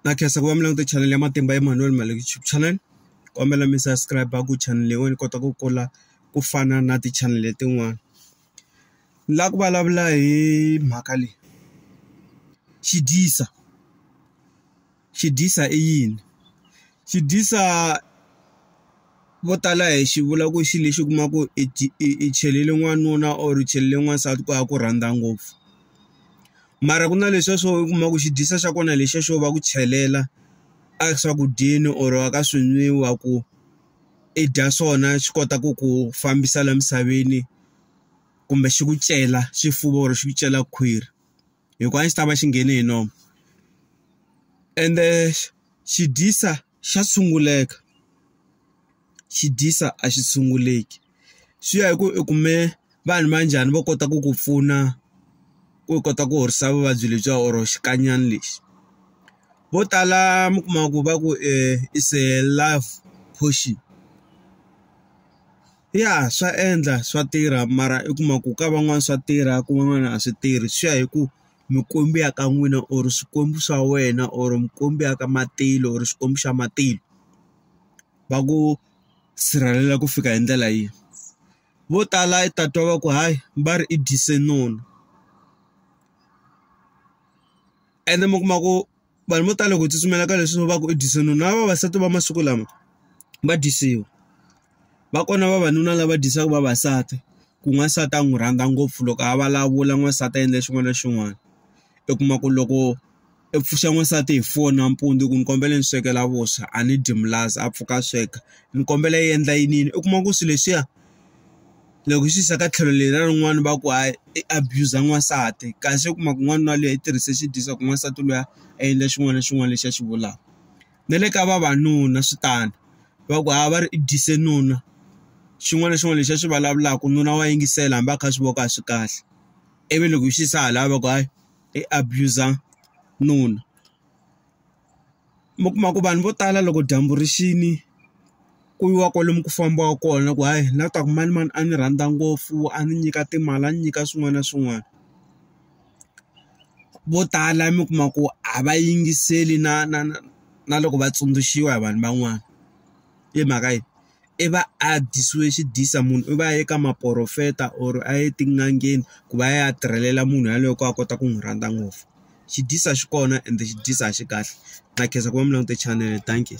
na khensa ku va mi langute channel ya matimba Emmanuel Male YouTube channel kombela mi subscribe ku channel leyi ni kota ku kula ku fana na ti channel letin'wana ni la ku vulavula hi mhaka leyi xidyisa xidyisa i yini xidyisa. vo tala hi xi vula ku xi lexi u kuma ku i i i chelele n'wanuna or u chelele n'wansati ku ya ku rhandza ngopfu mara ku na leswiya swo u kuma ku xi dyisa xa kona hi lexiya xo va ku chelela a swakudyeni or a ka swi nwiwa ku i dya swona xi kota ku ku fambisa la misaveni kumbe xi ku cela xifuva or xi ku cela khwiri hikuva a xi ta va xi nghene hi nomu ende xi dyisa. xa tshunguleka xi dyisa a xi tshunguleki swi ya hi ku u kume vanhu va njhani vo kota ku ku pfuna ku kota ku horisa vuvabyi lebyiwa or xikanyana lexi vo tala mi kuma ku va ku i se love portion ya swa endla swa tirha mara i kuma ku ka van'wani swa tirha ku van'wana a swi tirhi swi ya hi ku. mikwembu ya ka n'wina or swikwembu swa wena or mikwembu ya ka matilo or xikwembu xa matilo va ku sirhelela ku fika hi ndlela yini vo tala i ta twa va ku hayi va ri i dyise noni ene mi kuma ku. vanhu vo tala ku tsutsumela ka leswi va ku i dyisoni na vavasati va masiku lama va dyisiwa va kona vavanuna lava dyisaka vavasati ku n'wansati a n'wi rhandza ngopfu loko a vulavula n'wansati a endla xin'wana na xin'wana u kuma ku loko i pfuxa n'wansati hi foni nampundzu ku ni kombela ni swekela vuswa a ni dyi milaza a pfuka a sweka ni kombela yi endla yiniyini u kuma ku swilo leswiya. loko hi swi yisa ka tlhelo leri ra rin'wana va ku hayi i abuser n'wansati kasi u kuma ku n'wanuna luya i tirhise xidyoho xa ku n'wansati luya a endla xin'wana na xin'wana lexi a xi vulaka na le ka vavanuna swi tano va ku hayi va ri i dyise nuna xin'wana na xin'wana lexi a xi vulavulaka nuna wa yingisela hambi a kha a swi vona ku a swi kahle ivi loko hi swi yisa hala va ku hayi i abuser nuna. mi kuma ku vanhu vo tala loko dyambu ri xini ku yiwa kwalomu ku fambiwaka kona ku hayi la ta ku manimani a ni rhandza ngopfu a ni nyika timali a ni nyika swin'wana na swin'wana vo tala mi kuma ku a va yingiseli na na na na loko va tsundzuxiwa hi vanhu van'wana i mhaka yini. i va a dyisiwe xidyiso munhu i va a ye ka maporofeta or a ye etin'angeni ku va ya ya tirhelela munhu yaloye ku a kota ku n'wi rhandza ngopfu xi dyisa xi kona ende xi dyisa a xi kahle na khensa ku va mi langute chanele dankie.